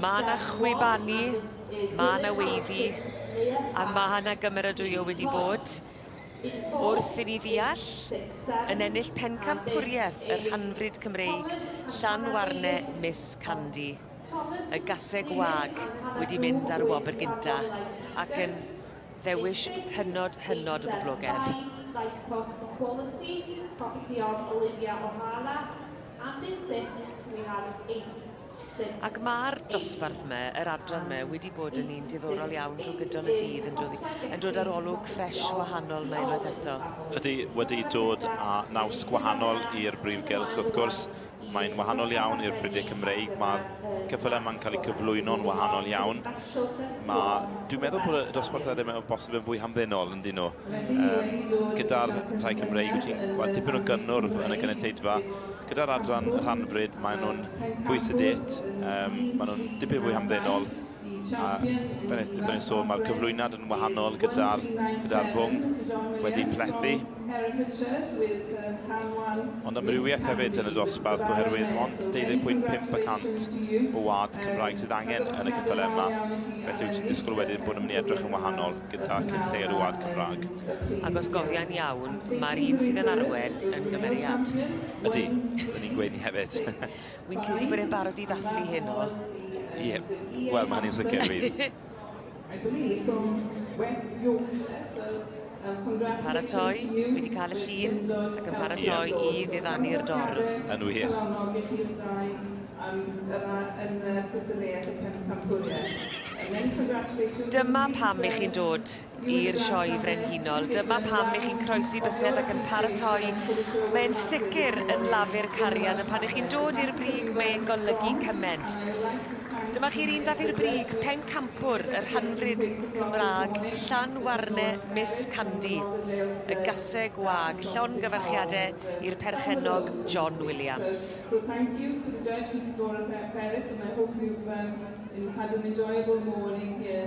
Mae yna chwibanu, mae yna weiddi, a mae yna gymeradwyo wedi bod wrth i ni ddeall yn ennill pencampwriaeth yr hanfryd Cymreig Llanwarne Miss Candy. Y gaseg wag wedi mynd ar y wobr gynta ac yn Ddewish hynod hynod o boblogedd. Ac ma'r dosbarth 'ma, yr adran 'ma wedi bod yn un diddorol iawn drw gydol y dydd yn dod i yn dod ar olwg ffresh wahanol 'ma unwaith eto. Ydi, wedi dod a naws gwahanol i'r brif gylch wrth gwrs. Mae'n wahanol iawn i'r prydau Cymreig, mae'r ceffylau yma'n cael eu cyflwyno'n wahanol iawn. Mae, dwi'n meddwl bod y dosbarthau ddim yn bosib yn fwy hamddenol yn dyn nhw. Um, gyda'r rhai Cymreig, wyt ti'n gweld tipyn o gynnwrf yn y gynulleidfa. Gyda'r adran rhanfryd, maen nhw'n fwy sedit, um, maen nhw'n dipyn fwy hamddenol. A fel ni'n sôn, mae'r cyflwynad yn wahanol gyda'r gyda rhwng wedi plethu. Ond amrywiaeth hefyd yn y dosbarth oherwydd ond 12.5 y cant o wad Cymraeg sydd angen yn y cyffylau yma. Felly wyt ti'n disgwyl wedyn bod yn mynd i edrych yn wahanol gyda cyn lleir o wad Cymraeg. Ac os gofian iawn, mae'r un sydd yn arwen yn gymeriad. Ydy, dyn ni'n gweini hefyd. Wi'n credu bod e'n barod i ddathlu heno. Ie, yeah. wel, mae hynny'n sicr fi. Paratoi, wedi cael y llun ac yn paratoi yeah. i ddiddanu'r dorf. Yn wir. Yn y cystadleuaeth y pencampwriaeth. Dyma pam i chi'n dod i'r Sioe Frenhinol. Dyma pam i chi'n croesi bysedd ac yn paratoi. Mae'n sicr yn lafur cariad a pan ych chi'n dod i'r brig mae'n golygu cyment. Dyma chi'r un fath i'r brig, pencampwr yr hanfryd Cymraeg, Llanwarne Miss Candy, y gaseg wag, llon gyfarchiadau i'r perchennog John Williams. So thank you to the judge, Mrs Laura Peris, and I hope you've um, had an enjoyable morning here.